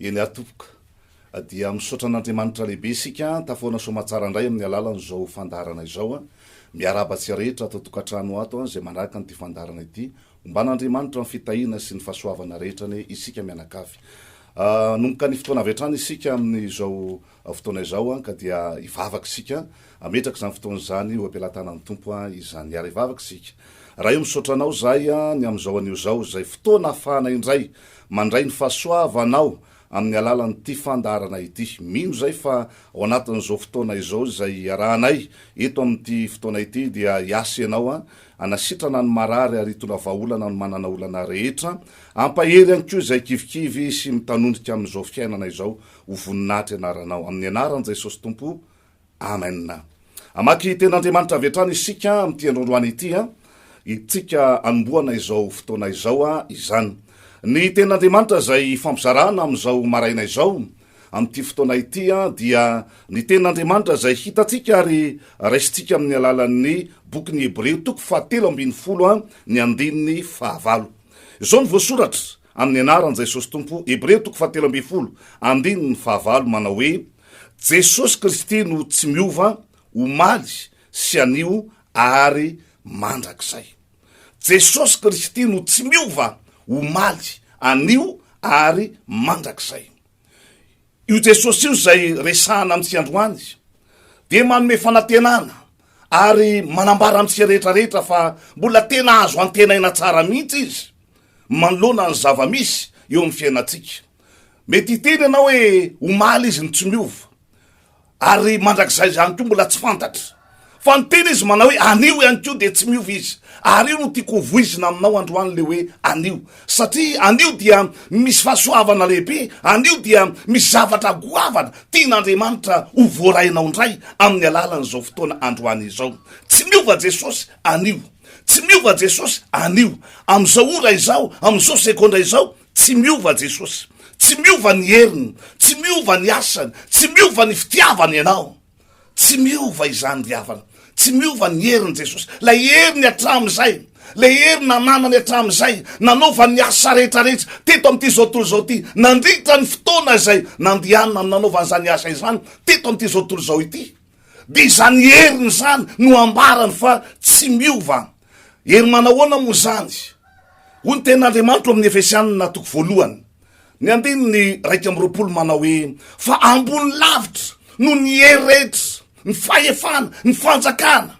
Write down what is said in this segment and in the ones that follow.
Eny ary tompoko. Dia misaotra an'Andriamanitra lehibe isika tafahoana soamatsara indray amin'ny alalan'izao fandaharana izao. Miarahaba antsika rehetra ato an-tokantrano ato izay manaraka an'ity fandaharana ity. Homban'Andriamanitra amin'ny fitahiana sy ny fahasoavana rehetra anie isika mianakavy. Anomboka ny fotoana avy hatrany isika amin'izao Ao fotoana izao an ka dia hivavaka isika, hametraka izany fotoana izany eo am-pelatanan'ny Tompo an izany. Miara hivavaka isika. Ray o, misaotra Anao izahay an ny amin'izao anio izao, izay fotoana ahafahana indray mandray ny fahasoavanao amin'ny alalan'ity fandaharana ity. Mino izahay fa ao anatin'izao fotoana izao izay iarahanay eto amin'ity fotoana ity dia hiasa Ianao an hanasitrana ny marary ary hitondra vahaolana ny manana olana rehetra. Hampahery ihany koa izay kivikivy sy mitanondrika amin'izao fiainana izao. Ho voninahitra ianaranao. Amin'ny anaran'i Jesosy Tompo. Amen. Hamaky Tenin'Andriamanitra avy hatrany isika amin'ity androandroany ity. Itsika anombohana izao fotoana izao izany. Ny Tenin'Andriamanitra izay ifampizarana amin'izao maraina izao, amin'ity fotoana ity, dia ny Tenin'Andriamanitra izay hitantsika ary raisintsika amin'ny alalan'ny bokin'ny Hebreo toko fahatelo ambin'ny folo, ny andininy fahavalo. Izao no voasoratra, Amin'ny anaran'i Jesosy Tompo, Hebreo toko fahatelo ambin'ny folo, andininy fahavalo, manao hoe, Jesosy Kristy no tsy miova omaly sy anio ary mandrakizay. Jesosy Kristy no tsy miova omaly, anio ary mandrakizay. Io Jesosy io izay resahana amintsika androany dia manome fanantenana ary manambara amintsika rehetrarehetra fa mbola tena azo antenaina tsara mihitsy izy manoloana ny zava-misy eo amin'ny fiainantsika. Mety hiteny ianao hoe omaly izy no tsy miova. ary mandrakizay izany koa mbola tsy fantatra fa ny tena izy manao hoe anio ihany koa dia tsy miova izy ary io no tiako ho voizina aminao androany le hoe anio satria anio dia misy fahasoavana lehibe anio dia misy zavatra goavana tian'andriamanitra ho voarainao indray amin'ny alalan'izao fotoana androany izao tsy miova jesosy anio tsy miova jesosy anio amin'izao ora izao amin'izao segondra izao Tsy miova Jesosy, tsy miova ny heriny, tsy miova ny asany, tsy miova ny fitiavany ianao. Tsy miova izany ry havana. Tsy miova ny heriny Jesosy, lay heriny hatramin'izay, lay heriny nananany hatramin'izay, nanaovany ny asa rehetra rehetra teto amin'ity zao tontolo izao ity, nandritra ny fotoana izay nandehanany amin'ny nanaovany izany asa izany teto amin'ity zao tontolo izao ity. Dia izany heriny izany no ambarany fa tsy miova. Hery manahoana moa izany? Hoy ny tenin'Andriamanitra ao amin'ny Efesianina toko voalohany, ny andininy iraika amby roapolo manao hoe fa ambony lavitra noho ny hery rehetra, ny fahefana, ny fanjakana,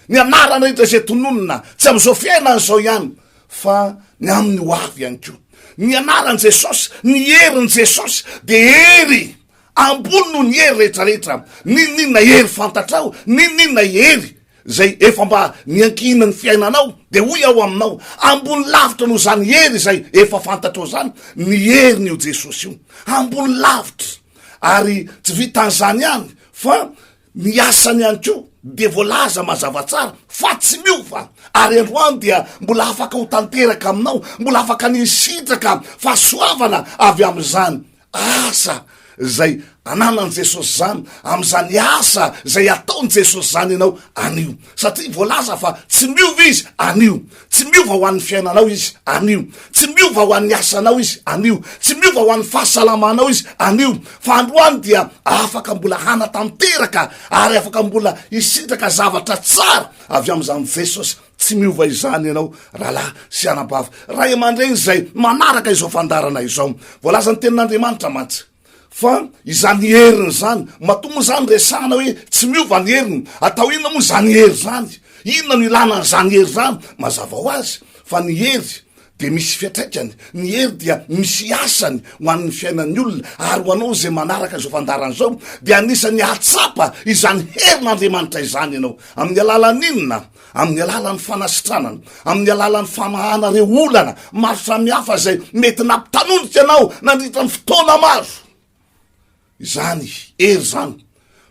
ny anarana rehetra izay tononina, tsy amin'izao fiainana izao ihany fa ny amin'ny ho avy ihany koa. Ny anaran'i Jesosy, ny herin'i Jesosy dia hery ambony noho ny hery rehetrarehetra. N'inon'inona hery fantatrao, n'inon'inona hery izay efa mba niankina ny fiainanao, dia hoy aho aminao, ambony lavitra noho izany hery izay efa fantatrao izany ny herin'io Jesosy io, ambony lavitra, ary tsy vitan'izany ihany fa ny asany ihany koa dia voalaza mazava tsara fa tsy miova, ary androany dia mbola afaka ho tanteraka aminao, mbola afaka ny hisitraka fahasoavana avy amin'izany Asa izay ananan'i Jesosy izany, amin'izany asa izay ataon'i Jesosy izany ianao anio. Satria voalaza fa tsy miova izy anio, tsy miova ho an'ny fiainanao izy anio, tsy miova ho an'ny asanao izy anio, tsy miova ho an'ny fahasalamanao izy anio, fa androany dia afaka mbola hanatanteraka ary afaka mbola hisitraka zavatra tsara avy amin'izany Jesosy Tsy miova izany ianao rahalahy sy anabavy, ray aman-dreny izay manaraka izao fandaharana izao. Voalazan'ny Tenin'Andriamanitra mantsy fa izany heriny izany, matoa moa izany resahana hoe tsy miova ny heriny, atao inona moa izany hery izany? Inona no ilana an'izany hery izany? Mazava ho azy fa ny hery dia misy fiantraikany, ny hery dia misy asany ho an'ny fiainan'ny olona, ary ho anao izay manaraka izao fandaharana izao dia anisan'ny hahatsapa izany herin'Andriamanitra izany ianao, amin'ny alalan'inona? amin'ny alalan'ny fanasitranana, amin'ny alalan'ny famahana ireo olana maro samihafa izay mety nampitanonika anao nandritra ny fotoana maro, Izany, hery izany,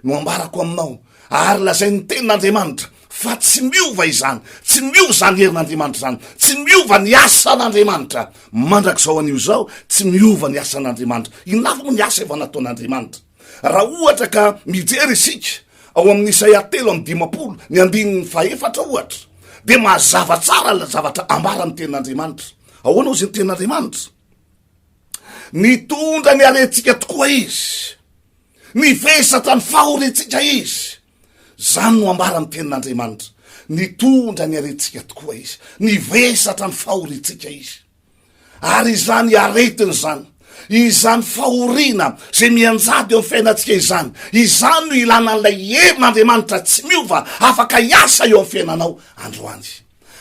no ambarako aminao, ary lazai ny tenin'Andriamanitra, fa tsy miova izany, tsy miova izany herin'Andriamanitra izany, tsy miova ny asan'Andriamanitra, mandrakizao anio izao, tsy miova ny asan'Andriamanitra. Inona avy moa ny asa efa nataon'Andriamanitra? Raha ohatra ka mijery isika ao amin'ny Isaia telo amby dimampolo, ny andininy fahefatra ohatra, dia mazava tsara ilay zavatra ambaran'ny tenin'Andriamanitra. Ahoana hozy ny tenin'Andriamanitra? Nitondra ny harentsika tokoa izy. Nivesatra ny fahoriantsika izy. Izany no ambara ny tenin'Andriamanitra. Nitondra ny harentsika tokoa izy. Nivesatra ny fahoriantsika izy. Ary izany aretiny izany, izany fahoriana izay mianjady eo amin'ny fiainantsika izany, izany no ilana an'ilay herin'Andriamanitra tsy miova afaka hiasa eo amin'ny fiainanao androany.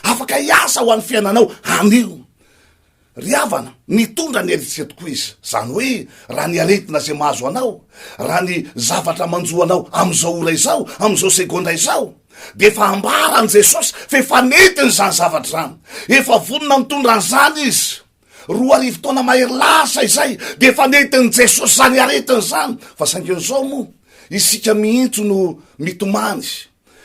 Afaka hiasa ho an'ny fiainanao anio. Ry havana, mitondra ny eritreritro koa izy. Izany hoe, raha ny aretina izay mahazo anao, raha ny zavatra manjo anao amin'izao ora izao, amin'izao segondra izao, dia efa ambara an'i Jesosy fa efa nentiny izany zavatra izany. Efa vonona nitondra an'izany izy. Roa arivo taona mahery lasa izay, dia efa nentin'i Jesosy izany aretina izany. Fa saingy izao moa, isika mihitsy no mitomany.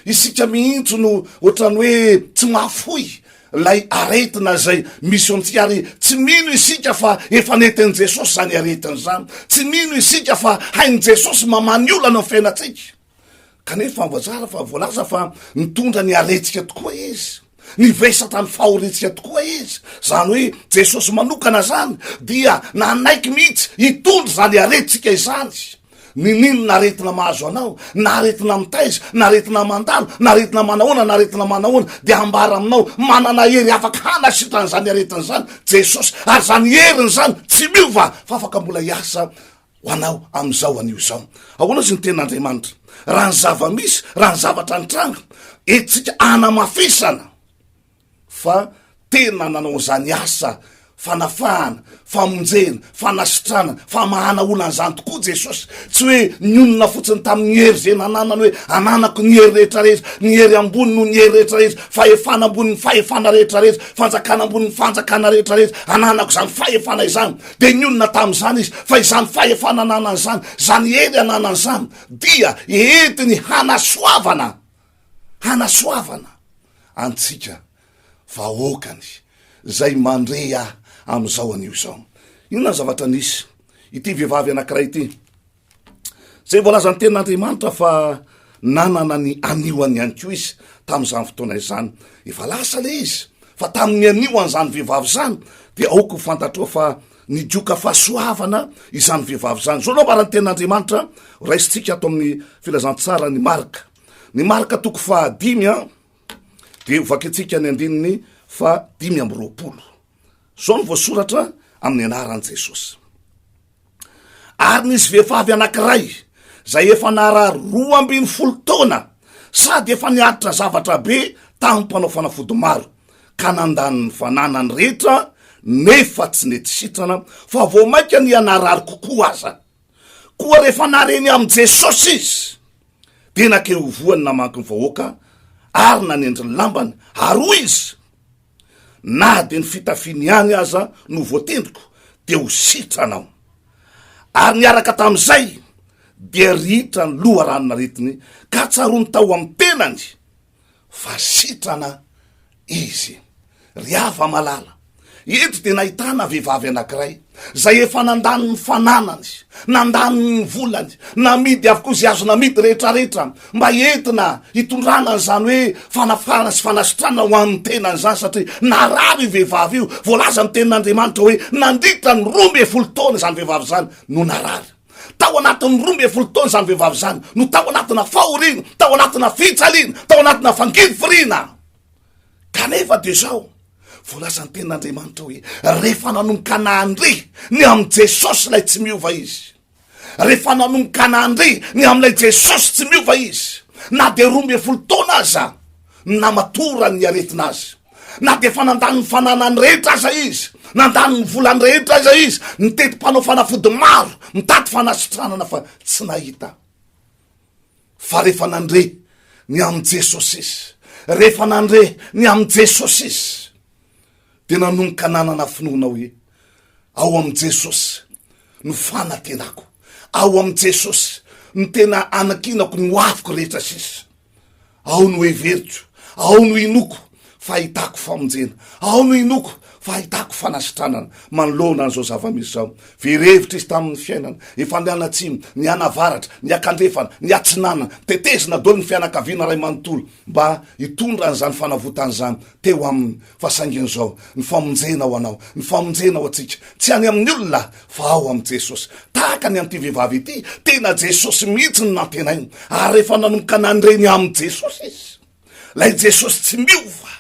Isika mihitsy no ohatran'ny hoe tsy mahafoy ilay aretina izay misy eo amintsika ary tsy mino isika fa efa nentin'i Jesosy izany aretina izany. Tsy mino isika fa hain'i Jesosy mamaha ny olana ny fiainantsika. Kanefa voazara fa voalaza fa mitondra ny aretika tokoa izy. Nivesatra ny fahoriantsika tokoa izy, izany hoe Jesosy manokana izany, dia nanaiky mihitsy hitondra izany aretintsika izany. Ninin na aretina mahazo anao, na aretina mitaiza, na aretina mandalo, na aretina manahoana, na aretina manahoana, dia hambara aminao, manana hery afaka hanasitrana izany aretina izany Jesosy, ary izany heriny izany tsy miova fa afaka mbola hiasa ho anao amin'izao anio izao. Ahoana izy ny tenin'Andriamanitra? Raha ny zava-misy, raha ny zavatra nitranga, entintsika anamafisana fa tena nanao an'izany asa fanafahana, famonjena, fanasitrana, famahana olona an'izany tokoa Jesosy. Tsy hoe nionona fotsiny tamin'ny hery izay nananany hoe ananako ny hery rehetra rehetra, ny hery ambony no ny hery rehetra rehetra, fahefana ambonin'ny fahefana rehetra rehetra, fanjakana ambonin'ny fanjakana rehetra rehetra, ananako izany fahefana izany. Dia nionona tamin'izany izy, fa izany fahefana ananany izany, izany hery ananany izany, dia entiny hanasoavana, hanasoavana antsika vahoakany, izay mandre ahy amin'izao anio izao. Inona ny zavatra nisy? Ity vehivavy anankiray ity, Izay voalazan'ny tenin'Andriamanitra fa nanana ny aniony ihany koa izy tamin'izany fotoana izany. Efa lasa ilay izy fa tamin'ny anio an'izany vehivavy izany dia aoka ho fantatrao fa ny joka fahasoavana izany vehivavy izany. Izao no ambaran'ny tenin'Andriamanitra raisintsika ato amin'ny filazantsara ny marka. Ny marka toko fahadimy an dia hovakintsika ny andininy fa dimy amby roapolo. Izao no voasoratra amin'ny anaran'i Jesosy. Ary nisy vehivavy anankiray izay efa narary roa ambin'ny folo taona sady efa niaritra zavatra be tamin'ny mpanao fanafody maro, ka nandany ny fananany rehetra nefa tsy nety sitrana, fa vao mainka niha narary kokoa aza. Koa rehefa nare ny amin'i Jesosy izy, dia nankeo ivohony namaky ny vahoaka ary nanendry ny lambany, ary hoy izy, Na dia ny fitafiany ihany aza no voatendriko dia ho sitranao. Ary niaraka tamin'izay dia rihitra ny loharanon'aretiny ka tsaroany tao amin'ny tenany fa sitrana izy. Ry afa-malala, eto dia nahitana vehivavy anankiray Izay efa nandany ny fananany, nandany ny volany, namidy avokoa izay azo namidy rehetrarehetra mba entina hitondrana an'izany hoe fanafarana sy fanasitranana ho an'ny tenany izany satria narary io vehivavy io, voalaza amin'ny tenin'Andriamanitra hoe nandritra ny roa ambin'ny folo taona izany vehivavy izany no narary. Tao anatin'ny roa ambin'ny folo taona izany vehivavy izany no tao anatina fahoriana, tao anatina fijaliana, tao anatina fangirifiriana. Kanefa dia izao, voalazan'ny tenin'Andriamanitra hoe, rehefa nanomboka nandre ny amin'i Jesosy ilay tsy miova izy, rehefa nanomboka nandre ny amin'ilay Jesosy tsy miova izy, na dia roa ambin'ny folo taona aza ny namatoran'ny aretina azy, na dia efa nandany ny fananany rehetra aza izy, nandany ny volany rehetra aza izy, nitety mpanao fanafody maro, mitady fanasitranana fa tsy nahita. Fa rehefa nandre ny amin'i Jesosy izy, rehefa nandre ny amin'i Jesosy izy, dia nanomboka nanana finoana hoe ao amin'i Jesosy no fanantenako, ao amin'i Jesosy no tena anankinako ny hoaviko rehetra sisa. Ao no heveriko, ao no inoako fa ahitako famonjena, ao no inoako fa ahitako fanasitranana manoloana an'izao zava-misy izao. Very hevitra izy tamin'ny fiainana, efa nianatsimo, nianavaratra, niakandrefana, niatsinanana, tetezina daholo ny fianakaviana iray manontolo mba hitondra an'izany fanavotana izany teo aminy. Fa saingy izao ny famonjena ho anao, ny famonjena ho antsika, tsy any amin'ny olona fa ao amin'i Jesosy. Tahaka ny an'ity vehivavy ity, tena Jesosy mihitsy no nantenainy, ary rehefa nanomboka nandre ny amin'i Jesosy izy, ilay Jesosy tsy miova,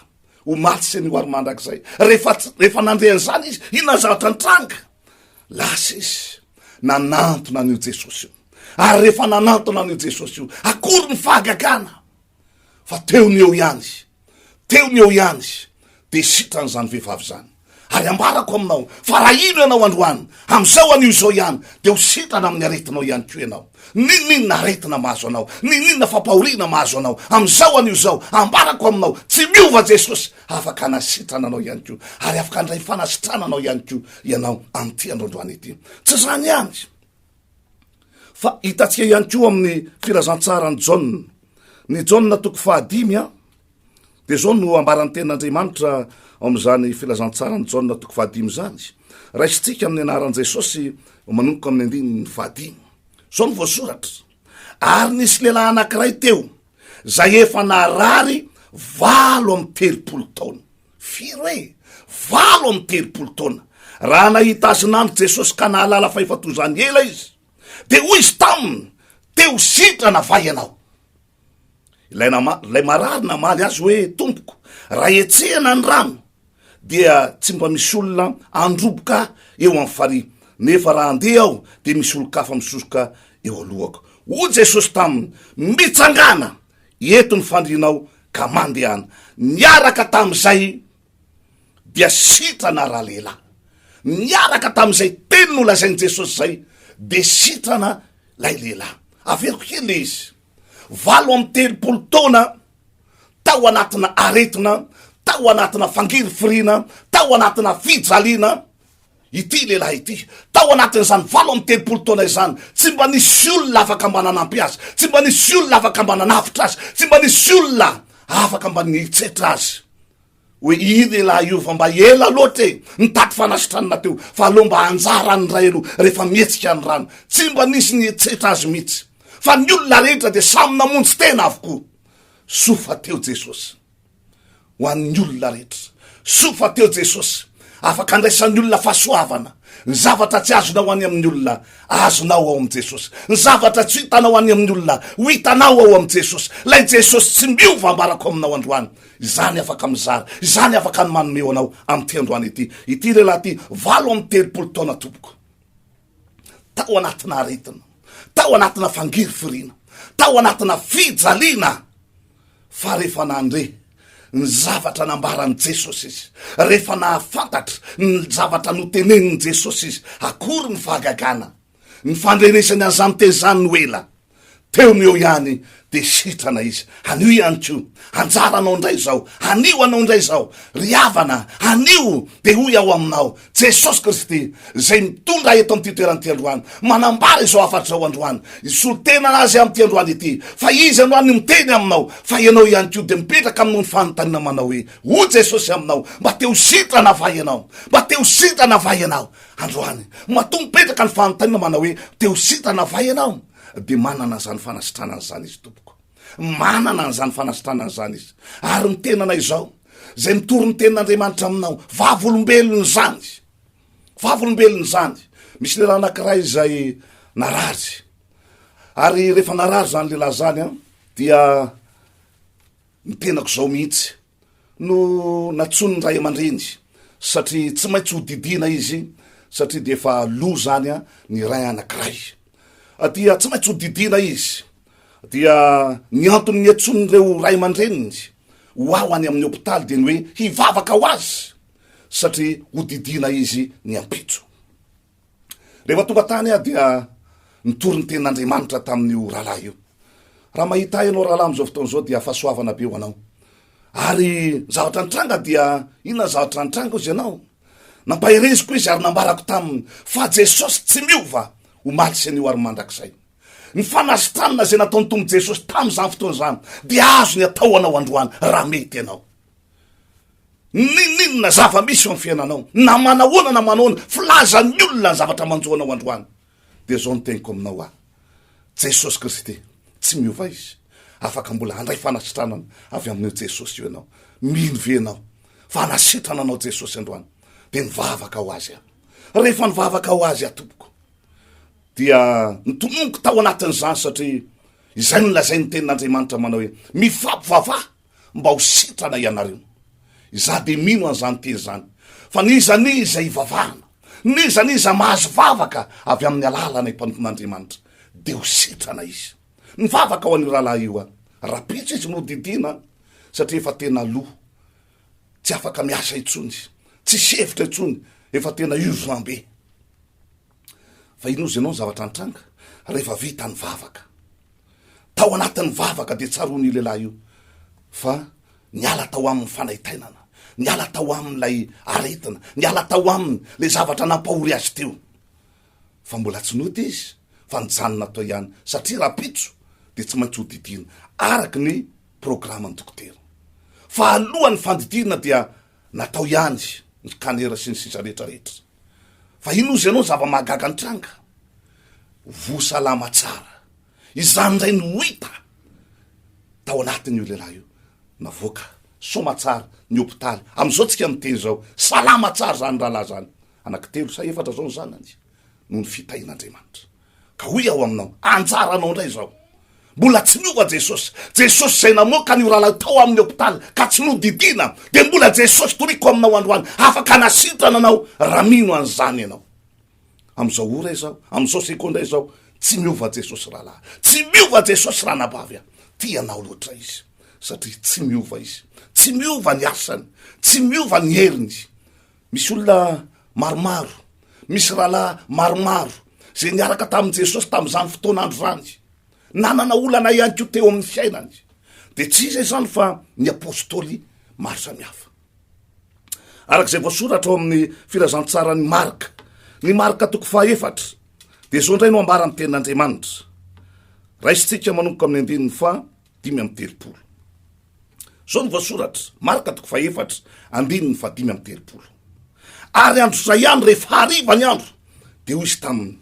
omaly sy anio ary mandrakizay, rehefa, rehefa nandre an'izany izy, inona ny zavatra nitranga? Lasa izy nanantona an'io Jesosy io. Ary rehefa nanantona an'io Jesosy io, akory ny fahagagana! fa teo no eo ihany izy, teo no eo ihany izy, dia sitran'izany vehivavy izany. Ary ambarako aminao fa raha hino ianao androany, amin'izao anio izao ihany, dia ho sitrana amin'ny aretinao ihany koa ianao. N'inon'inona aretina mahazo anao, n'inon'inona fampahoriana mahazo anao, amin'izao anio izao, ambarako aminao, tsy miova Jesosy, afaka hanasitrana anao ihany koa, ary afaka handray fanasitranana anao ihany koa ianao amin'ity andro androany ity. Tsy izany ihany, Fa hitantsika ihany koa amin'ny filazantsaran'i Jaona. Ny Jaona toko fahadimy a, dia izao no ambaran'ny tenin'Andriamanitra ao amin'izany filazantsaran'i Jaona toko fahadimy izany. Raisintsika amin'ny anaran'i Jesosy manomboka amin'ny andininy fahadimy. Izao no voasoratra. Ary nisy lehilahy anankiray teo, izay efa narary valo amin'ny telopolo taona. Firy hoe? Valo amby telopolo taona. Raha nahita azy nandry Jesosy ka nahalala fa efa toy izany ela izy, dia hoy izy taminy, Te-ho sitrana va ianao? Ilay, nama, ilay marary namaly azy hoe, Tompoko, raha hetsehana ny rano, dia tsy mba misy olona handroboka eo amin'ny farihy, nefa raha handeha aho, dia misy olon-kafa misosoka eo alohako. Hoy Jesosy taminy, Mitsangàna! Eto ny fandrinao ka mandehana. Niaraka tamin'izay dia sitrana ralehilahy. Niaraka tamin'izay teny nolazain'i Jesosy izay dia sitrana ilay lehilahy. Averiko kely ilay izy. Valo amby telopolo taona tao anatina aretina, tao anatina fangirifiriana, tao anatina fijaliana, Ity lehilahy ity, tao anatin'izany valo amby telopolo taona izany, tsy mba nisy olona afaka mba nanampy azy, tsy mba nisy olona afaka mba nanavotra azy, tsy mba nisy olona afaka mba nihitsetra azy. Hoe i lehilahy io fa mba ela loatra e, nitady fanasitranana teo, fa aleo mba anjara any indray aloha rehefa mihetsika ny rano. Tsy mba nisy nihitsetra azy mihitsy. Fa ny olona rehetra dia samy namonjy tena avokoa. Soa fa teo Jesosy. ho an'ny olona rehetra. Soa fa teo Jesosy, afaka andraisan'ny olona fahasoavana. Ny zavatra tsy azonao any amin'ny olona, azonao ao amin'i Jesosy. Ny zavatra tsy hitanao any amin'ny olona, ho hitanao ao amin'i Jesosy. Ilay Jesosy tsy miova ambarako aminao androany. Izany afaka mizara, izany afaka ny manome ho anao amin'ity androany ity. Ity lehilahy ity, valo amby telopolo taona tompoko. Tao anatina aretina, tao anatina fangirifiriana, tao anatina fijaliana. Fa rehefa nandre ny zavatra nambaran'i Jesosy izy, rehefa nahafantatra ny zavatra notenenin'i Jesosy izy, akory ny fahagagana! Ny fandrenesany an'i Zantezany no ela teo no eo ihany dia sitrana izy. Anio ihany koa, anjaranao indray izao, anio anao indray izao, ry havana, anio dia hoy aho aminao, Jesosy Kristy, izay mitondra ahy eto amin'ity toerana ity androany, manambara izao hafatra izao androany, hisolo tena azy amin'ity androany ity, fa izy androany no miteny aminao, fa ianao ihany koa dia mipetraka aminao ny fanontaniana manao hoe, hoy Jesosy aminao, mba te ho sitrana va ianao? Mba te ho sitrana va ianao? Androany, matoa mipetraka ny fanontaniana manao hoe, te ho sitrana va ianao? Dia manana an'izany fanasitranana izany izy, tompoko. Manana an'izany fanasitranana izany izy. Ary ny tenanay izao, zay mitory ny tenin'Andriamanitra aminao. Vavolombelona izany. Vavolombelona izany. Misy lehilahy anankiray izay narary. Ary rehefa narary izany lehilahy izany an, dia ny tenako izao mihitsy no natsoin'ny ray aman-dreny satria tsy maintsy hodidiana izy satria dia efa loa izany an, ny ray anankiray. dia tsy maintsy hodidiana izy, dia ny antony niantsoan'ireo ray aman-dreniny ho aho any amin'ny hopitaly dia ny hoe hivavaka ho azy satria hodidiana izy ny ampitso. Rehefa tonga tany aho dia nitory ny tenin'Andriamanitra tamin'io rahalahy io. Raha mahita ahy ianao rahalahy amin'izao fotoana izao dia fahasoavana be ho anao. Ary zavatra nitranga dia inona ny zavatra nitranga hozy ianao? Nampahereziko izy ary nambarako taminy fa Jesosy tsy miova omaly sy anio ary mandrakizay. Ny fanasitranana izay nataon'ny Tompo Jesosy tamin'izany fotoana izany dia azony atao anao androany raha mety ianao. Ninininona zava-misy eo amin'ny fiainanao na manahoana na manahoana filaza ny olona ny zavatra manjo anao androany. Dia izao no teniko aminao aho, Jesosy Kristy tsy miova Izy, afaka mbola handray fanasitranana avy amin'io Jesosy io ianao. Mino ve ianao fa hanasitrana anao Jesosy androany? Dia mivavaka ho Azy aho. Rehefa nivavaka ho Azy aho tompoko, dia nitomomoko tao anatin'izany satria izay no lazain'ny tenin'Andriamanitra manao hoe, Mifampivavaha mba ho sitrana ianareo. Izaho dia mino an'izany teny izany, fa n'iza n'iza hivavahana, n'iza n'iza mahazo vavaka avy amin'ny alalanay mpanompon'Andriamanitra, dia ho sitrana izy. Mivavaka ho an'io rahalahy io aho. Rapitso izy no didiana, satria efa tena lo, tsy afaka miasa intsony, tsisy hevitra intsony, efa tena urgent be. Fa inozy ianao ny zavatra nitranga rehefa vita ny vavaka. Tao anatin'ny vavaka dia tsaroany io lehilahy io fa niala tao aminy fanaintainana, niala tao aminy ilay aretina, niala tao aminy ilay zavatra nampahory azy teo. Fa mbola tsy nody izy fa nijanona tao ihany satria rapitso dia tsy maintsy hodidiana araka ny programan'ny dokotera. Fa alohan'ny fandidiana dia natao ihany ny scanner sy ny sisa rehetra rehetra. Fa inona ozy ianao zava-mahagaga nitranga? Voa salama tsara. Izany indray no hita tao anatin'io lehilahy io. Navoaka soma tsara ny hopitaly. Amin'izao tsika miteny izao, salama tsara izany rahalahy izany. Anankitelo sa efatra izao ny zanany noho ny fitahian'Andriamanitra. Ka hoy aho aminao, anjaranao indray izao. Mbola tsy niova Jesosy. Jesosy izay namoaka an'io rahalahy tao amin'ny hopitaly ka tsy nodidiana, dia mbola Jesosy toriko aminao androany, afaka hanasitrana anao raha mino an'izany ianao. Amin'izao ora izao, amin'izao segondra izao, tsy miova Jesosy rahalahy. Tsy miova Jesosy ranabavy a. Tia anao loatra Izy, satria tsy miova Izy. Tsy miova ny asany. Tsy miova ny heriny. Misy olona maromaro, misy rahalahy maromaro izay niaraka tamin'i Jesosy tamin'izany fotoan'andro izany, nanana olana ihany koa teo amin'ny fiainany, dia tsy iza izany fa ny apôstôly maro samihafa. Araka izay voasoratra ao amin'ny filazantsaran'i Marka, ny Marka toko fahaefatra, dia izao indray no ambaran'ny tenin'Andriamanitra. Raisintsika manomboka amin'ny andininy faha dimy amby telopolo. Izao no voasoratra, Marka toko fahefatra, andininy fahadimy amby telopolo. Ary andro izay ihany, rehefa hariva ny andro, dia hoy izy taminy,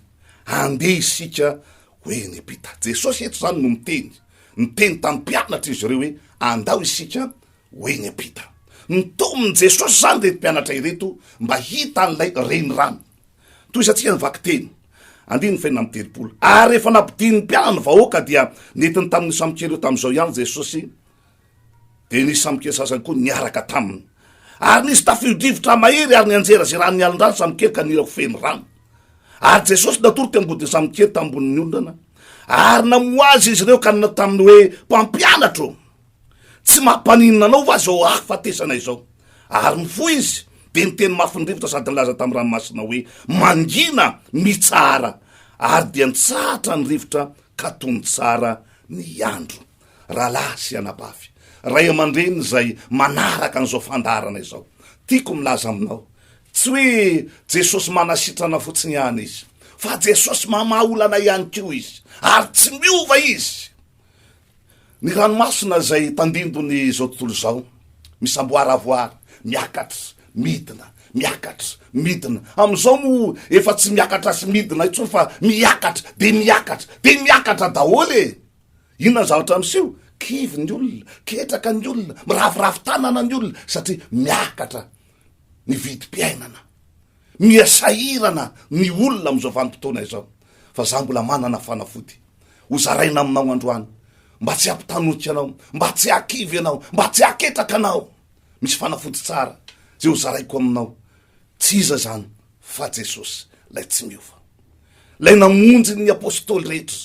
Andeha isika ho Enepita. Jesosy eto izany no miteny, niteny tamin'ny mpianatra izy ireo hoe, Andao isika ho Enepita. Nitomin'i Jesosy izany ireto mpianatra ireto mba hita an'ilay renirano. Tohizatsika ny vakiteny. Andininy fahenina amby telopolo. Ary rehefa nampodian'ny mpianany ny vahoaka, dia nentiny tamin'io sampikely io tamin'izao ihany Jesosy, dia nisy sampikely sasany koa niaraka taminy. Ary nisy tafio-drivotra mahery ary nianjerazeran'ny alin-drano ny sampikely ka nila ho feno rano. Ary Jesosy natoro teo am-bodin'ny sampikely tambonin'ny ondana, ary namoha azy izy ireo ka nanao taminy hoe, Mpampianatro! Tsy mampaninona anao va izao hahafatesana izao? Ary mifoha izy, dia niteny mafy ny rivotra sady nilaza tamin'ny ranomasina hoe, Mangina, mitsahara! Ary dia nitsahatra ny rivotra ka tony tsara ny andro. Rahalahy sy anabavy, ray aman-dreny izay manaraka an'izao fandaharana izao, tiako milaza aminao, tsy hoe Jesosy manasitrana fotsiny ihany Izy, fa Jesosy mamaha olana ihany koa Izy, ary tsy miova Izy. Ny ranomasina izay tandindon'izao tontolo izao, misamboaravoara, miakatra, midina, miakatra, midina. Amin'izao moa efa tsy miakatra sy midina intsony fa miakatra, dia miakatra, dia miakatra daholo e! Inona ny zavatra miseho? Kivy ny olona, ketraka ny olona, miraviravy tanana ny olona satria miakatra ny vidim-piainana. Miha sahirana ny olona amin'izao vanim-potoana izao. Fa izaho mbola manana fanafody. ho zaraina aminao androany mba tsy hampitanoika anao mba tsy hakivy anao mba tsy haketraka anao misy fanafody tsara zay ho zaraiko aminao tsy iza zany fa jesosy lay tsy miova lay namonjy ny apostoly rehetra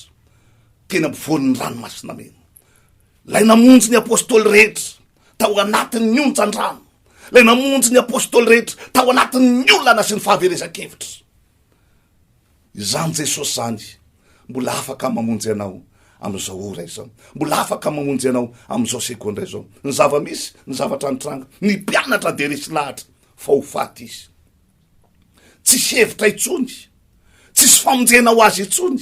teny ampivoan'ny ranomasina mena lay namonjy ny apostoly rehetra tao anatin'ny onjandrano lay namonjy ny apostoly rehetra tao anatin'ny olana sy ny fahaverezan-kevitra Izany Jesosy izany mbola afaka mamonjy anao amin'izao ora izao. Mbola afaka mamonjy anao amin'izao segondra izao. Ny zava-misy, ny zavatra nitranga, ny mpianatra dia resy lahatra fa ho faty izy. Tsisy hevitra intsony, tsisy famonjena ho azy intsony,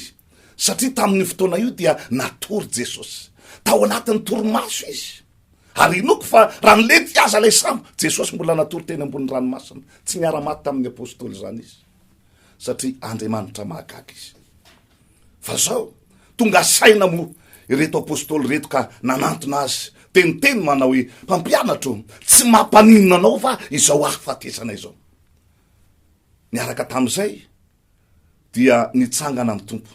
satria tamin'io fotoana io dia natory Jesosy. Tao anatin'ny torimaso izy. Ary inoko fa raha nilety aza ilay sambo, Jesosy mbola natory teny ambony ranomasina. Tsy niara-maty tamin'ny apostoly izany izy. satria Andriamanitra mahagaga izy. Fa zao, tonga saina moa ireto apostoly ireto ka nanantona azy teniteny manao hoe, mpampianatro, tsy mampaninona anao va izao hahafatesana izao? Niaraka tamin'izay dia nitsangana ny tompo.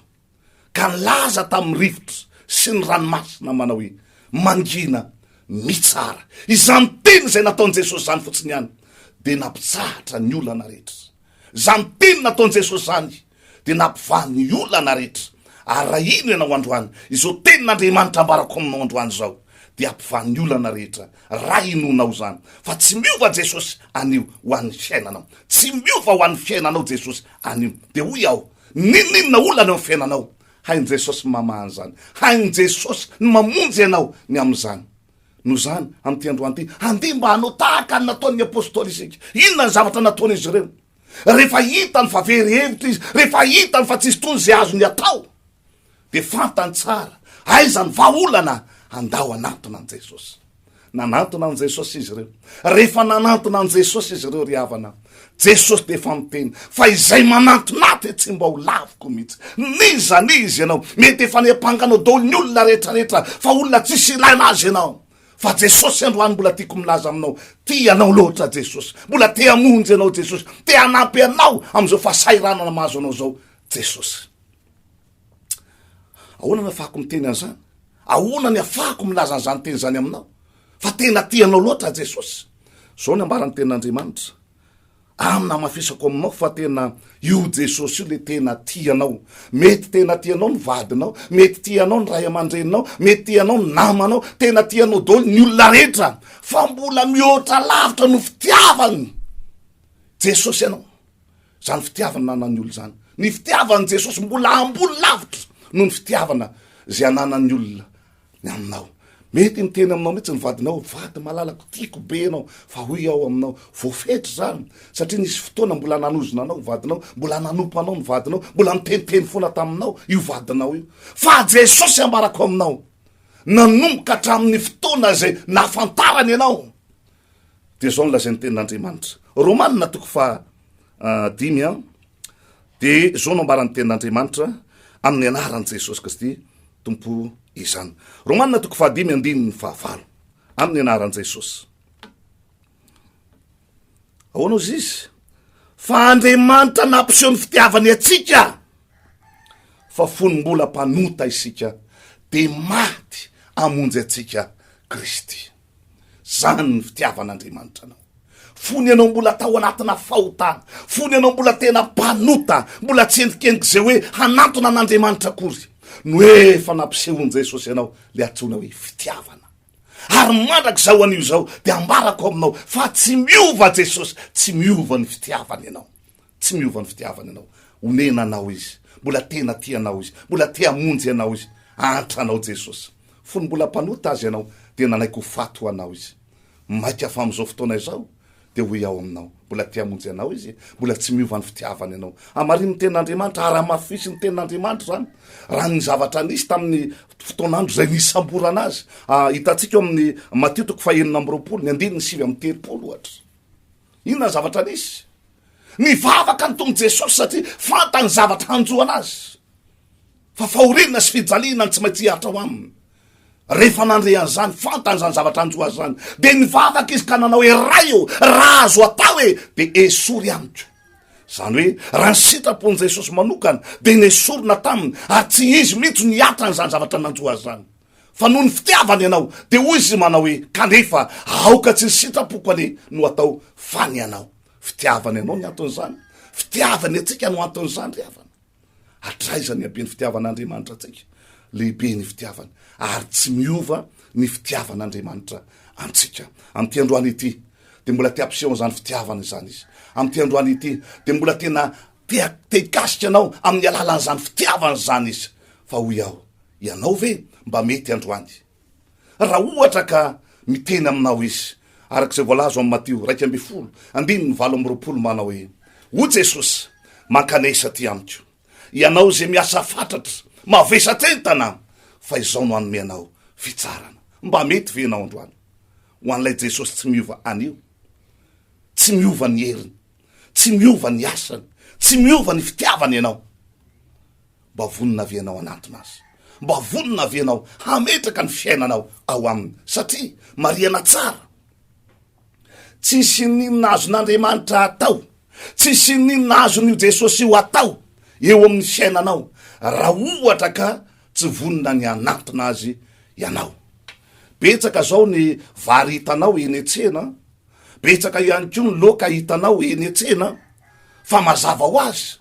ka nilaza tamin'ny rivotra sy ny ranomasina manao hoe, Mangina, mitsara. Izany teny izay nataon'i Jesosy izany fotsiny ihany dia nampitsahatra ny olana rehetra. Izany teny nataon'i Jesosy izany dia nampivaha ny olana rehetra. Ary raha ino ianao androany, izao tenin'Andriamanitra ambarako aminao androany izao dia hampivaha ny olana rehetra, raha inoanao izany. Fa tsy miova Jesosy anio ho an'ny fiainanao. Tsy miova ho an'ny fiainanao Jesosy anio. Dia hoy aho, N'inon'inona olana eo amin'ny fiainanao, hain'i Jesosy ny mamaha an'izany. Hain'i Jesosy ny mamonjy anao ny amin'izany. Noho izany, amin'ity androany ity, andeha mba hanao tahaka ny nataon'ny apostoly isika. Inona ny zavatra nataon'izy ireo? Rehefa hitany fa very hevitra izy, rehefa hitany fa tsy hisy intsony izay azony atao, dia fantany tsara aiza ny vahaolana handao hanantona an'i Jesosy. Nanantona an'i Jesosy izy ireo. Rehefa nanantona an'i Jesosy izy ireo ry havana, Jesosy dia efa miteny fa izay manantona ahy dia tsy mba ho laviko mihitsy. N'iza n'iza ianao, mety efa niampanganao daholo ny olona rehetrarehetra fa olona tsisy ilaina azy ianao. Fa Jesosy androany mbola tiako milaza aminao, tia anao loatra Jesosy. Mbola te hamonjy anao Jesosy. Te hanampy anao amin'izao fahasahiranana mahazo anao izao Jesosy. Ahoana no afahako miteny an'izany? Ahoana ny afahako milaza an'izany teny izany aminao fa tena tia anao loatra aho Jesosy? Izao ny ambaran'ny tenin'Andriamanitra amina hamafisako aminao fa tena io Jesosy io le tena tia anao. Mety tena tia anao ny vadinao, mety tia anao ny ray aman-dreninao, mety tia anao ny namanao, tena tia anao daholo ny olona rehetra fa mbola mihoatra lavitra no fitiavany Jesosy anao. Zany fitiavana ananan'ny olona zany. Ny fitiavan'i Jesosy mbola ambony lavitra noho ny fitiavana izay ananan'ny olona ny aminao. Mety miteny aminao mihitsy ny vadinao hoe vady malalako, tiako be ianao, fa hoy aho aminao, voafetra izany, satria nisy fotoana mbola nanozona anao ny vadinao, mbola nanompo anao ny vadinao, mbola niteniteny foana taminao io vadinao io. Fa Jesosy ambarako aminao, nanomboka hatramin'ny fotoana izay nahafantarany ianao, Dia izao no lazain'ny tenin'Andriamanitra. Romana toko faha dimy an. Dia izao no ambaran'ny tenin'Andriamanitra amin'ny anaran'i Jesosy Kristy tompo izany. Romana toko faha dimy andininy fahavalo amin'ny anaran'i Jesosy. Ahoana ozy izy? Fa Andriamanitra nampiseho ny fitiavany atsika fa fony mbola mpanota isika dia maty amonjy atsika Kristy. Zany ny fitiavan'Andriamanitra anao. Fony ianao mbola tao anatina fahotana, fony ianao mbola tena mpanota, mbola tsy endrikendriky zay hoe hanantona an'Andriamanitra akory, no efa nampisehoan'i Jesosy anao le atsoina hoe fitiavana. Ary mandrak'izao anio zao de ambarako aminao fa tsy miova Jesosy, tsy miova ny fitiavany anao. Tsy miova ny fitiavany anao. Omena anao izy. Mbola tena tia anao izy. Mbola te hamonjy anao izy. Ahantra anao Jesosy. Fony mbola mpanota Azy ianao dia nanaiky ho faty ho anao Izy. Maika fa amin'izao fotoana izao dia ho hiao aminao. Mbola te hamonjy anao Izy e. Mbola tsy miova ny fitiavany anao. Hamarino ny tenin'Andriamanitra. Ara-mafisy ny tenin'Andriamanitra izany. Raha ny zavatra nisy tamin'ny fotoan'andro izay nisamborana Azy. Hitantsika ao amin'ny Matio toko fahenina amby roapolo, ny andininy sivy amby telopolo ohatra. Inona ny zavatra nisy? Nivavaka ny Tompo Jesosy satria fantany ny zavatra hanjo an'azy, fa fahoriana sy fijaliana ny tsy maintsy hiaritra ao aminy. Rehefa nandre an'izany, fantany izany zavatra hanjo azy izany, dia nivavaka izy ka nanao hoe Ray ô, raha azo atao e, dia esory amiko. Izany hoe raha ny sitrapon'i Jesosy manokana dia nesorina taminy ary tsy izy mihitsy no hiatra an'izany zavatra nanjo azy izany. fa noho ny fitiavany ianao, dia hoy izy manao hoe, kanefa aoka tsy ny sitrapoko anie no hatao fa ny anao. Fitiavany anao ny anton'izany, fitiavany antsika no anton'izany ry havana. Hatraiza ny haben'ny fitiavan'Andriamanitra antsika? Lehibe ny fitiavany ary tsy miova ny fitiavan'Andriamanitra antsika. Amin'ity androany ity dia mbola te hampiseho an'izany fitiavana izany izy. Amin'ity androany ity dia mbola tena te te hikasika anao amin'ny alalan'izany fitiavana izany izy. Fa hoy aho, Ianao ve mba mety androany? Raha ohatra ka miteny aminao Izy, araka izay voalaza ao amin'ny Matio iraika ambin'ny folo, andininy valo amby roapolo manao hoe, O Jesosy, mankanesa aty amiko. Ianao izay miasa fatratra, mavesatra entana, fa izao no hanome anao fitsarana. Mba mety ve ianao androany ho an'ilay Jesosy tsy miova anio? Tsy miova ny heriny, tsy miova ny asany, tsy miova ny fitiavany ianao. Mba vonona ve ianao hanantona Azy? Mba vonona ve ianao hametraka ny fiainanao ao Aminy? Satria, marihana tsara, tsy hisy n'inona azon'Andriamanitra hatao, tsy hisy n'inona azon'io Jesosy io hatao eo amin'ny fiainanao, raha ohatra ka tsy vonona ny hanantona Azy ianao. Betsaka izao ny vary hitanao eny an-tsena, Betsaka ihany koa ny loka hitanao eny an-tsena fa mazava ho azy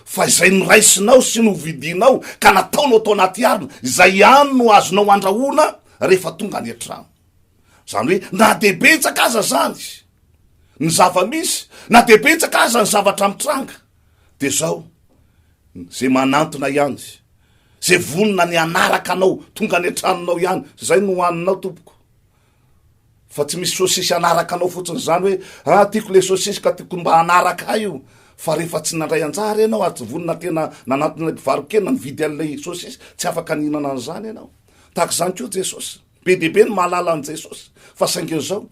fa izay noraisinao sy novidianao ka nataonao tao anaty harona, izay ihany no azonao handrahoana rehefa tonga any an-trano. Izany hoe na dia betsaka aza izany ny zava-misy, na dia betsaka aza ny zavatra mitranga, dia izao, izay manantona ihany, izay vonona ny hanaraka anao tonga any an-tranonao ihany, izay no hohaninao tompoko. Fa tsy misy sosisy hanaraka anao fotsiny izany hoe ah tiako ilay sosisy ka tiako mba hanaraka ahy io fa rehefa tsy nandray anjara ianao ary tsy vonona tena nanantona ilay mpivarokena nividy an'ilay sosisy tsy afaka nihinana an'izany ianao tahaka izany koa jesosy be dia be ny mahalala an'i jesosy fa saingy izao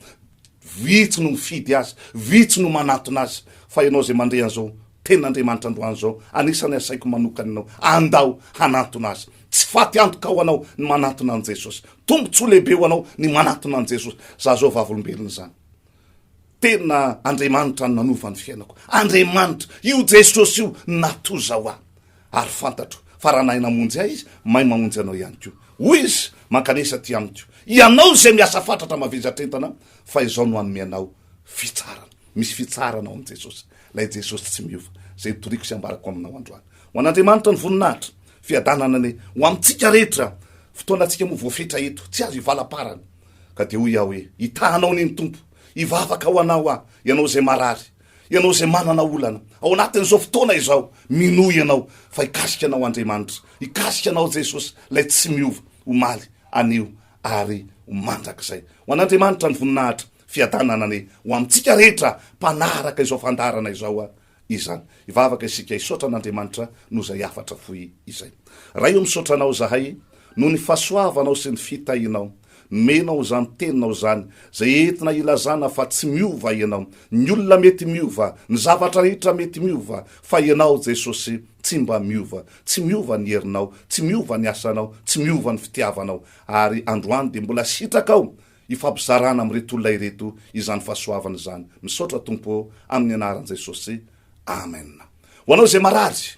vitsy no mifidy azy vitsy no manantona azy fa ianao izay mandre an'izao Tenin'Andriamanitra androany izao, anisan'ny asaiko manokana ianao, andao hanantona Azy. Tsy faty antoka ho anao ny manantona an'i Jesosy. Tombontsoa lehibe ho anao ny manantona an'i Jesosy. Za zao vavolombelona izany. Tena Andriamanitra no nanova ny fiainako. Andriamanitra, io Jesosy io natoza ho ahy. Ary fantatro fa raha nahay namonjy ahy Izy, mahay mamonjy anao ihany koa. Hoy Izy, Mankanesa aty Amiko, ianao izay miasa fatratra mavezatr'entana, fa Izaho no hanome anao fitsarana. Misy fitsarana ao amin'i Jesosy. Ilay Jesosy tsy miova, izay nitoriako sy ambarako aminao androany. Ho an'Andriamanitra ny voninahitra, fiadanana anie ho amintsika rehetra. Fotoanantsika moa voafetra eto, tsy azo ivalaparana. Ka dia hoy aho hoe, Hitahanao anie ny Tompo, hivavaka ho anao aho, ianao izay marary, ianao izay manana olana, ao anatin'izao fotoana izao, minoa ianao fa hikasika anao Andriamanitra, hikasika anao Jesosy, ilay tsy miova, omaly, anio, ary ho mandrakizay. Ho an'Andriamanitra ny voninahitra. Fiadananany ho amintsika rehetra mpanaraka izao fandaharana izao izany. Hivavaka isika hisaotra an'Andriamanitra noho izay hafatra fohy izay. Ray o misaotra Anao izahay noho ny fahasoavanao sy ny fitahianao. Nomenao izany Teninao izany izay entina hilazana fa tsy miova Ianao. Ny olona mety miova, ny zavatra rehetra mety miova fa Ianao Jesosy tsy mba miova. Tsy miova ny herinao, tsy miova ny asanao, tsy miova ny fitiavanao. Ary androany dia mbola sitraka aho Hifampizarana amin'ireto olona ireto izany fahasoavana izany. Misaotra Tompo ô, amin'ny anaran'i Jesosy. Amen. Ho anao izay marary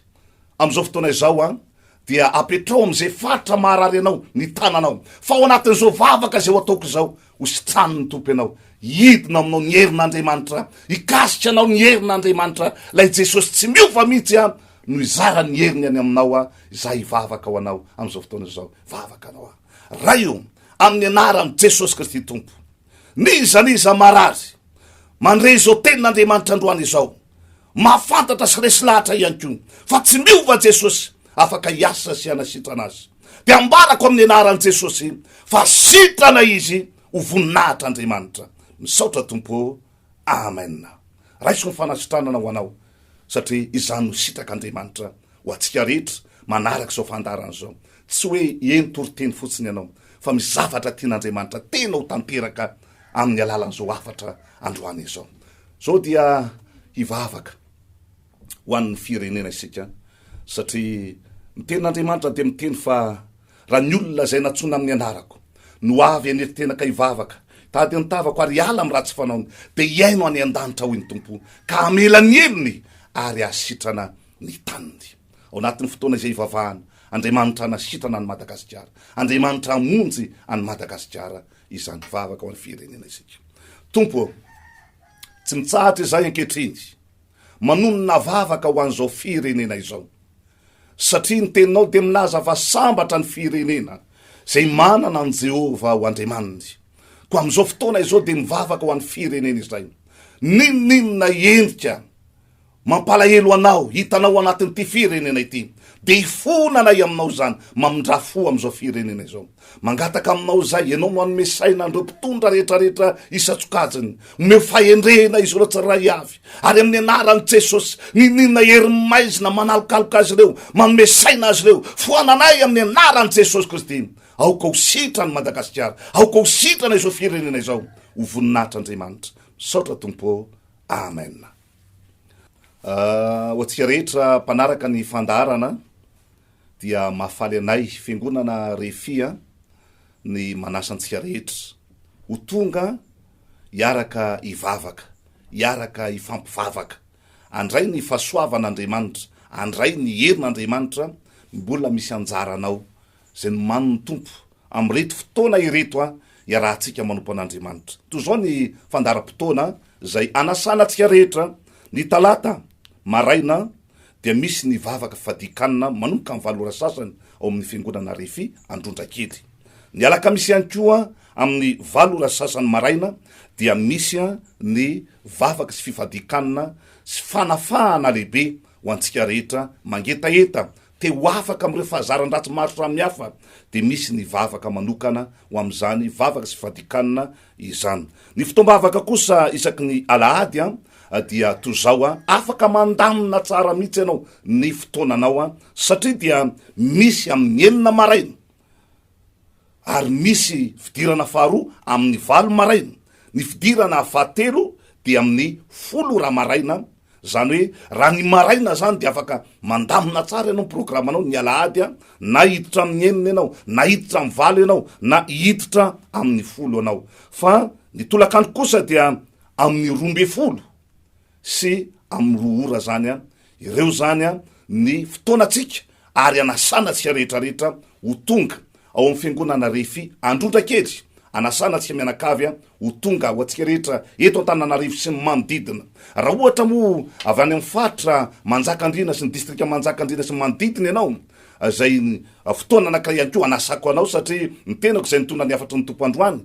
amin'izao fotoana izao an, dia apetraho amin'izay faritra maharary anao ny tananao, fa ao anatin'izao vavaka izay ho ataoko izao, hositranin'ny Tompo ianao, hidina ao aminao ny herin'Andriamanitra, hikasika anao ny herin'Andriamanitra, ilay Jesosy tsy miova mihitsy an, no hizara ny heriny any aminao an, izaho hivavaka ho anao amin'izao fotoana izao, vavaka anao an. Ray o, amin'ny anaran'i Jesosy Kristy Tompo, n'iza n'iza marary, mandre izao tenin'Andriamanitra androany izao, mahafantatra sy resy lahatra ihany koa fa tsy miova Jesosy, afaka hiasa sy hanasitrana azy. Dia ambarako amin'ny anaran'i Jesosy fa sitrana izy ho voninahitra Andriamanitra. Misaotra Tompo o. Amen. Raiso ny fanasitranana ho anao satria izany no sitrak'Andriamanitra Ho antsika rehetra manaraka izao fandaharana izao, tsy hoe eny toriteny fotsiny ianao, fa misy zavatra tian'Andriamanitra tena ho tanteraka amin'ny alalan'izao hafatra androany izao. Izao dia hivavaka ho an'ny firenena isika, satria ny Tenin'Andriamanitra dia miteny fa raha ny olona izay nantsoina amin'ny anarako no avy hanerin-tena ka hivavaka, hitady ny tavako ary hiala amin'ny ratsy fanaony, dia hihaino any an-danitra, hoy ny Tompo, ka hamela ny helony ary hahasitrana ny taniny. Ao anatin'ny fotoana izay ivavahana, Andriamanitra hanasitrana an'i Madagasikara, Andriamanitra hamonjy an'i Madagasikara izany vavaka ho an'ny firenena isika. Tompo ô, tsy mitsahatra izahay ankehitriny manonona vavaka ho an'izao firenena izao, satria ny teninao dia milaza fa sambatra ny firenena izay manana an'i Jehovah ho Andriamaniny. Koa amin'izao fotoana izao dia mivavaka ho an'ny firenena izay, n'inon'inona endrika, Mampalahelo anao hitanao anatin'ity firenena ity dia hifona anay aminao izany mamindra fo amin'izao firenena izao mangataka aminao izahay ianao no hanome saina an'ireo mpitondra rehetrarehetra isan-tsokajiny omeo fahendrena izy ireo tsirairay avy ary amin'ny anaran'i Jesosy nininona herin'ny maizina manalokaloka azy ireo manome saina azy ireo foananay amin'ny anaran'i Jesosy Kristy aoka ho sitrany Madagasikara aoka ho sitrana izao firenena izao ho voninahitra Andriamanitra misaotra Tompo Amen Ho antsika rehetra mpanaraka ny fandaharana dia mahafaly anay Fiangonana Refi ny manasa antsika rehetra ho tonga hiaraka hivavaka, hiaraka hifampivavaka, handray ny fahasoavan'Andriamanitra, handray ny herin'Andriamanitra, mbola misy anjaranao Izay nomanin' ny Tompo amin' ireto fotoana ireto iarahantsika manompo an' Andriamanitra. Toy izao ny fandaharam-potoana izay hanasana antsika rehetra, Ny talata maraina dia misy ny vavaka fadian-kanina manomboka ny valo ora sasany ao amin' ny Fiangonana Refi Androndrakely. Ny alakamisy ihany koa amin' ny valo ora sasany maraina dia misy ny vavaka sy fifadian-kanina sy fanafahana lehibe ho antsika rehetra mangetaheta Te ho afaka amin'ireo fahazaran-dratsy maro samihafa dia misy ny vavaka manokana ho amin'izany vavaka sy fadikana izany. Ny fotoam-bavaka kosa isaky ny alahady dia toy izao, afaka mandamina tsara mihitsy ianao ny fotoananao satria dia misy amin'ny enina maraina ary misy fidirana faharoa amin'ny valo maraina, ny fidirana fahatelo dia amin'ny folo raha maraina, zany hoe raha ny maraina zany dia afaka mandamina tsara ianao ny programanao ny alahady an, na hiditra amin'ny enina ianao, na hiditra amin'ny valo ianao, na hiditra amin'ny folo ianao, fa ny tolakandro kosa dia amin'ny roa ambin'ny folo sy amin'ny roa ora zany an, ireo zany an ny fotoanantsika ary anasana antsika rehetra rehetra ho tonga ao amin'ny fiangonana Refi Androndra kely, anasana antsika mianakavy an ho tonga ho antsika rehetra eto Antananarivo sy ny manodidina, raha ohatra moa avy any amin'ny faritra Manjakandriana sy ny distrika Manjakandriana sy ny manodidina ianao izay fotoana anankiray ihany koa hanasako anao, satria ny tenako izay nitondra ny hafatry ny Tompo androany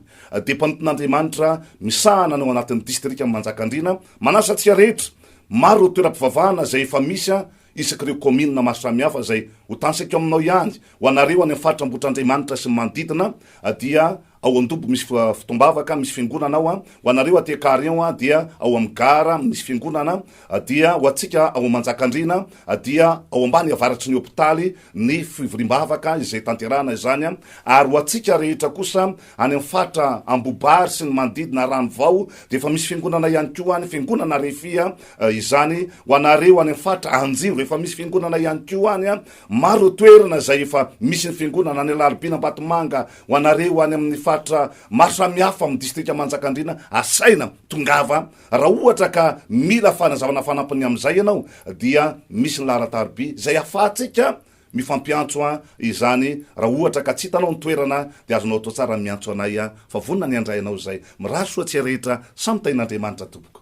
dia mpanompon'Andriamanitra misahana any ao anatin'ny distrikan'i Manjakandriana, manasa antsika rehetra, maro ireo toeram-pivavahana izay efa misy isaky ireo kaominina maro samihafa izay ho tanisaiko aminao ihany, ho anareo any amin'ny faritra Ambohitrandriamanitra sy ny manodidina dia Ao Andobo misy fotoam-bavaka, misy fiangonana ao, ho anareo aty Carion dia ao amin'ny gara misy fiangonana, dia ho antsika ao Manjakandriana dia ao ambany avaratry ny hopitaly ny fivoriam-bavaka izay tanterahana izany, ary ho antsika rehetra kosa any amin'ny faritra Ambobary sy ny manodidina Ranovao dia efa misy fiangonana ihany koa any, fiangonana Refia izany, ho anareo any amin'ny faritra Anjivo efa misy fiangonana ihany koa any, maro ireo toerana izay efa misy ny fiangonana, any Alarobia, Ambatomanga, Ho anareo any amin'ny faritra maro samihafa amin'ny distrika Manjakandriana, asaina tongava raha ohatra ka mila fanazavana fanampiny amin'izay ianao dia misy ny laharan-tariby izay ahafahantsika mifampiantso izany raha ohatra ka tsy hitanao ny toerana dia azonao atao tsara ny miantso anay fa vonona ny handray anao izay. Mirary soa tsy rehetra samy tahin'Andriamanitra tompoko.